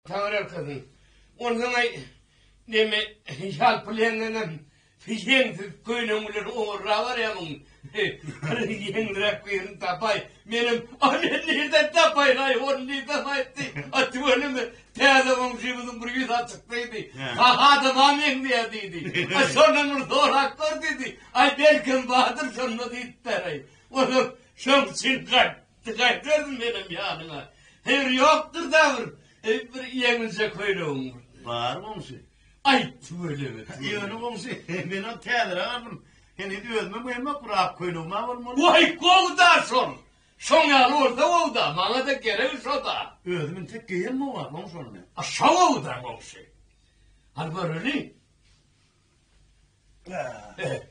Taňryýalkasyn. Onsoň-a neme ýalpylaýaňyňam ýeňsiz köýnegiňleri ogurlap barýarmyň? Bir ýeňliräk birini tapaý. Menem, Ony nirden tapaýyn-aý, ony nirden aýtdy? A tüweleme, täze goňşymyzyň bir ýüzi açyk diýdi. Hah, adama meňzeýär diýdi. A şondan bir sorap gör diýdi. Aý, belkem bardyr şonda diýipdir-aý. Onsoň şoň üçin gaýt. Ýiti gaýtaryn menem ýanyňa. Heýr, ýokdur-da bir, eý, bir ýeňilje köýnegiň bir. Bar, goňşy. Aýt, tüweleme. Ýöne, goňşy, menem täzeräk aldym. Heniz özümem geýemok, bir ak köýnegim-ä bolmaly. Waý, gowy-da şol. Şoň ýaly bolsa gowy-da. Maňa-da geregi şo-da. Özüm intek geýemok-a, goňşy, ony. A şo gowy-da, goňşy. Al göreli. Ä.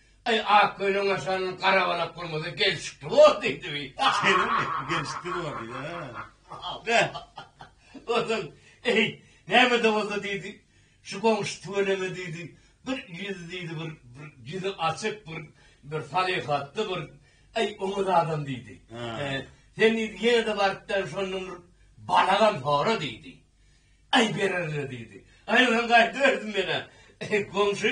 Aý, Akgölüň aşan garabalak gurmazy gelşikli bor diýdibi? Şeýlemi? Gelşikli bor diýdi, hä? Onsoň, eý, näme-de bolsa diýdi, şu goňşy tüweleme diýdi, bir ýüzi diýdi, bir ýüzi açyk, bir bir salyhatly, bir, aý, oňat adam diýdi. Sen diýdi, ýene-de barypdan şondan bir balagam sora diýdi. Aý, berer-le diýdi. Aý, onsoň gaýdyberdim men-ä. Goňşy,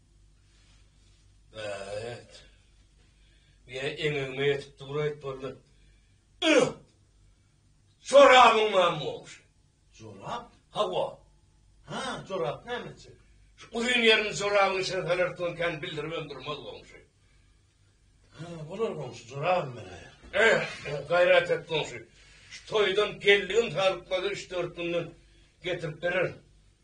Bäh-et. Ýe, eňegime ýetip dur aýtboldy. Ýh! Jorabyň barmy goňşy? Jorap? Hawa. Ha, jorap näme üçin? Şu uzyn ýerini jorabyň içine salar tugun kän bildiribem durmaz goňşy. Ha, bolar goňşy, jorabym men aýar. Ýh, gaýrat et goňşy. Şu toýdan geldigim salykmady üç-dört günden getirip bererin.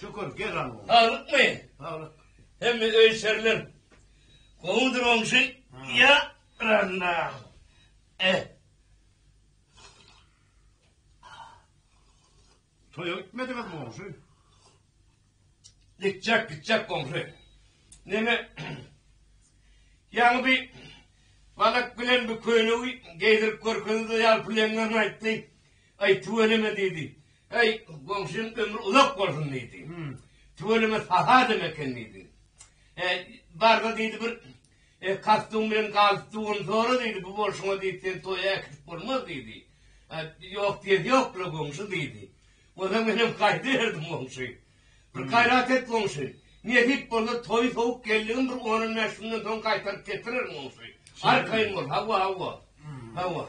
Şükür, gel alma. Saglykmy? Saglyk. Hemme öý şerler gowudyr oňşy? Ýa Ralla. Eh. Toýa gitmediňiz goňşy? Gitjek, gitjek goňşy. Neme? Ýaňy bir balak bilen bir köýnegi geýdirip görkezdi, ýalpylaýanlaryny aýtdy. Aý, tüweleme, diýdi. Aý, goňşyň ömri uzak bolsun, diýdi. Tüweleme, saha adam eken, diýdi. E, bar-da, diýdi, bir e, kastyň bilen galyp duguny sora, diýdi. Bu bolşuňa, diýdi, seni toýa äkidip bolmaz, diýdi. E, ýok diýesi ýok-la, goňşy, diýdi. Onda menem gaýdy berdim, goňşy. Bir gaýrat et, goňşy. Nesip bolsa, toýy sowuk geldigim bir on-on bäş günden soň gaýtaryp getirerin, goňşy. Arkaýyn bol, hawa, hawa. Hawa.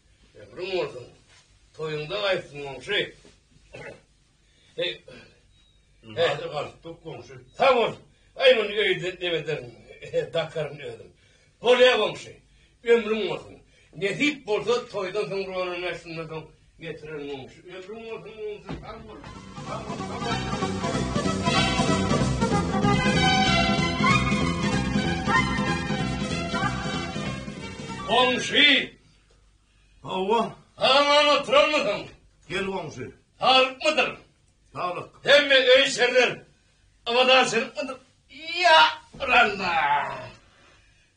Ömrüň bolsun. Toýuňda gaýtsyn goňşy. Hey. Hadi galyp dur goňşy. Sag bol. Aý muny öýde demeden dakaryn özüm. Bolýa goňşy. Ömrüň bolsun. Nesip bolsa toýdan soň rolan näşinden soň getiren goňşy. Ömrüň bolsun goňşy. Sag bol. Sag bol. Goňşy. Hawa. Aman oturanmysyň? Gel goňşy. Saglykmydyr? Saglyk. Hemme öý-işerler abadançylykmydyr? Ýa, Randa!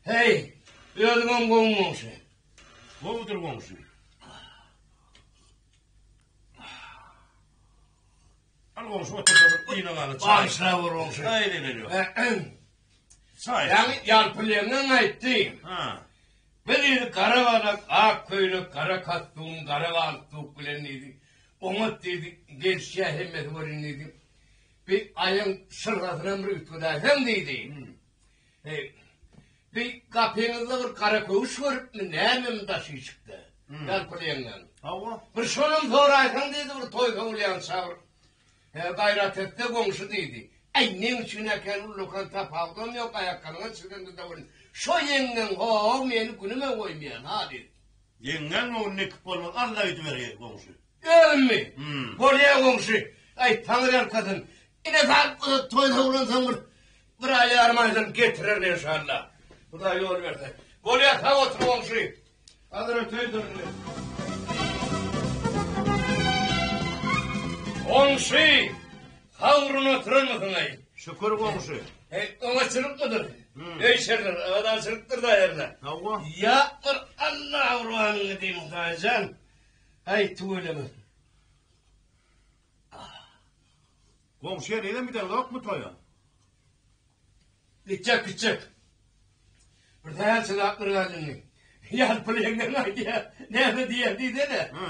Heý, özüňem gowmy goňşy? Gowudyr goňşy. Al goňşy otursa bir yna gala çaý. Bagyşla bir goňşy. Çaý edip berýär. Çaý. Ýagny ýalpylýandan aýtdy. Ha. Bir ýeri gara balak, ak köýnek, gara kastun, gara galstuk bilen diýdi. Oňat diýdi, gelişýär hemmesi welin diýdi. Bir aýaň şyrgasyna bir üýtgedäýseň diýdi. Heý, bi gapyňyzda bir gara köwüş görüpmi, nämemi daşyşykda? Ýalpyl ýeňňäň. Hawa. Bir şonam soraýsaň diýdi bir toý sowulýança bir. He, Gaýrat et-de, goňşy diýdi. Äý, neň üçin äken, ullakan tapawudam ýok, aýakgalyňa çyzyldy da welin, şo ýeňňäň ho-o meni günüme goýmaýan-a diýdi. Ýeňňäň göwnüne kip bolmaz, Alla öýdüber, heý, goňşy. Özümmi? Bolýa goňşy. Aý, taňry ýalkasyn. Ine sag bolup, toý sowlansoň bir bir aý ýarym aýdan getirerin enşalla. Hudaý ýol berse. Bolýa, sag otur goňşy. Hazir öteýdirin men. Goňşy, sagdyn oturanmysyň-aý? Şükür goňşy. Heý, öňe çyrykmydyr? Öý şerler, abadançylykdyr-da ýerler. Hawa. Ýapdyr, Alla abraýyňy diýiň, Hudaýjan. Aý tüwelemesin. Goňşy henize gidendokmy toýa? Gitjek gitjek. Bir sähel çydapdyr galdyny. Ýaly pul ýeňňeň aýdýar. Näme diýýär diýsene. Hä.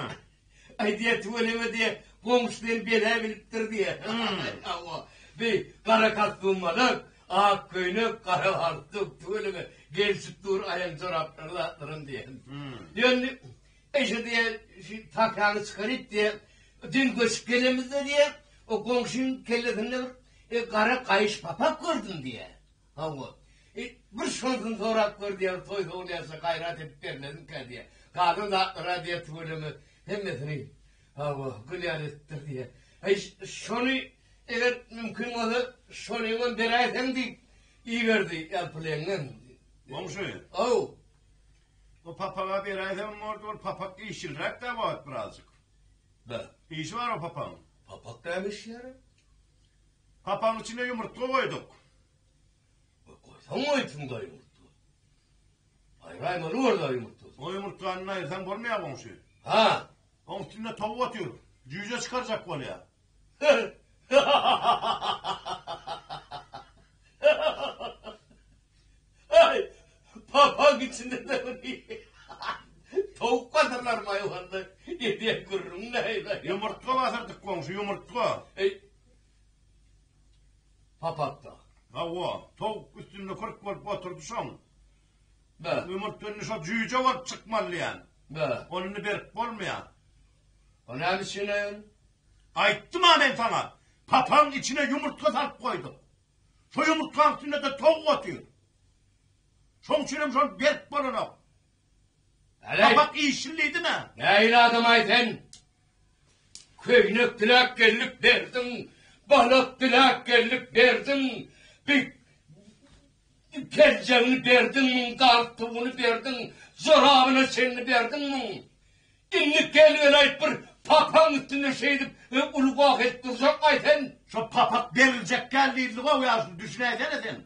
Aýdýar tüweleme diýýär. Goňşy seni bela bilipdir diýýär. Hawa. Bi gara kastymmalyk, ak köýnek, gara galstuk, tüweleme gelşip dur aýaň joraplaryň zatlaram diýýär. Ýöne Eje diýýär, Şu papagyny çykaryp diýýär, düýn göçüp gelemizde diýýär, o goňşyň kellesinde bir gara gaýyş papak gördüm diýýär. Hawa. E, bir şondan sorap gör diýýär, toý sowulýarça gaýrat edip bermedimkä diýýär. Galan zatlar-a diýýär, tüweleme hemmesini, hawa, gülýär edipdir diýýär. Heý, şony eger mümkin bolsa, şonyňam beräýseň diýip iberdi, ýalpyleňňem. Goňşy? Haw. O papaga beräýsem bordy, ol papak işçilräk däl wagt birazjyk. Bä. Işi bar o papagyň. Papak däl işýär. Papagyň içine ýumurtga goýduk. Goý, goýsaň goýupsyň da ýumurtga. Aýraýmaly boldy ýumurtga. O ýumurtgany aýyrsaň bolmaýar goňşy. Hä. Oň üstünde towuk otyr. Jüýje çykarjak bolýar. Papaň içinde-de towuk basyrlar maýwanda edýän gürrüň näme? Ýumurtga basyrdyk goňşy, ýumurtga. Eý, papak-da. Hawa, towuk üstünde kürk bolup oturdy şoň. Ýumurtga indi şo jüýje bolup çykmaly diýýän. Ony indi berip bolmaýar. O näme üçine? Aýtdym-a men saňa, papaň içine ýumurtga salyp goýduk. Şo ýumurtgaň üstünde-de towuk otyr. Şoň üçin hem şol berk bolanok. Papak işillidimi? Nähili adam-aý sen? Köýnek diläp geldik berdiň, balak diläp geldik berdiň, bi, Peljegiňi berdiň müň, galtugyny berdiň, jorabyna çenli berdiň müň. Indi gel welaýt bir papaň üstünde şeýdip uly goh edip durjakmaý sen? Şo papak beriljek däl diýildi-gow ýa şuny düşünäýsene sen.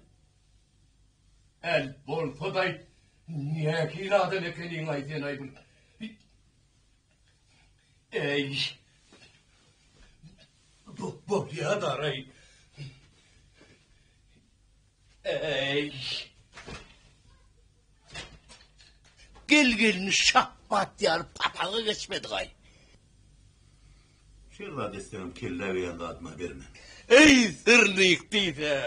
Äl bolsadaý nähili adam ekeniňaý senaý bir. Äý. Bolýadaray. Eý. Gel gelini şapbat ýar papaga geçmedi gaý. Şeýle zat islenem kelle beýan zadyma berme. Eý sirlik diýse.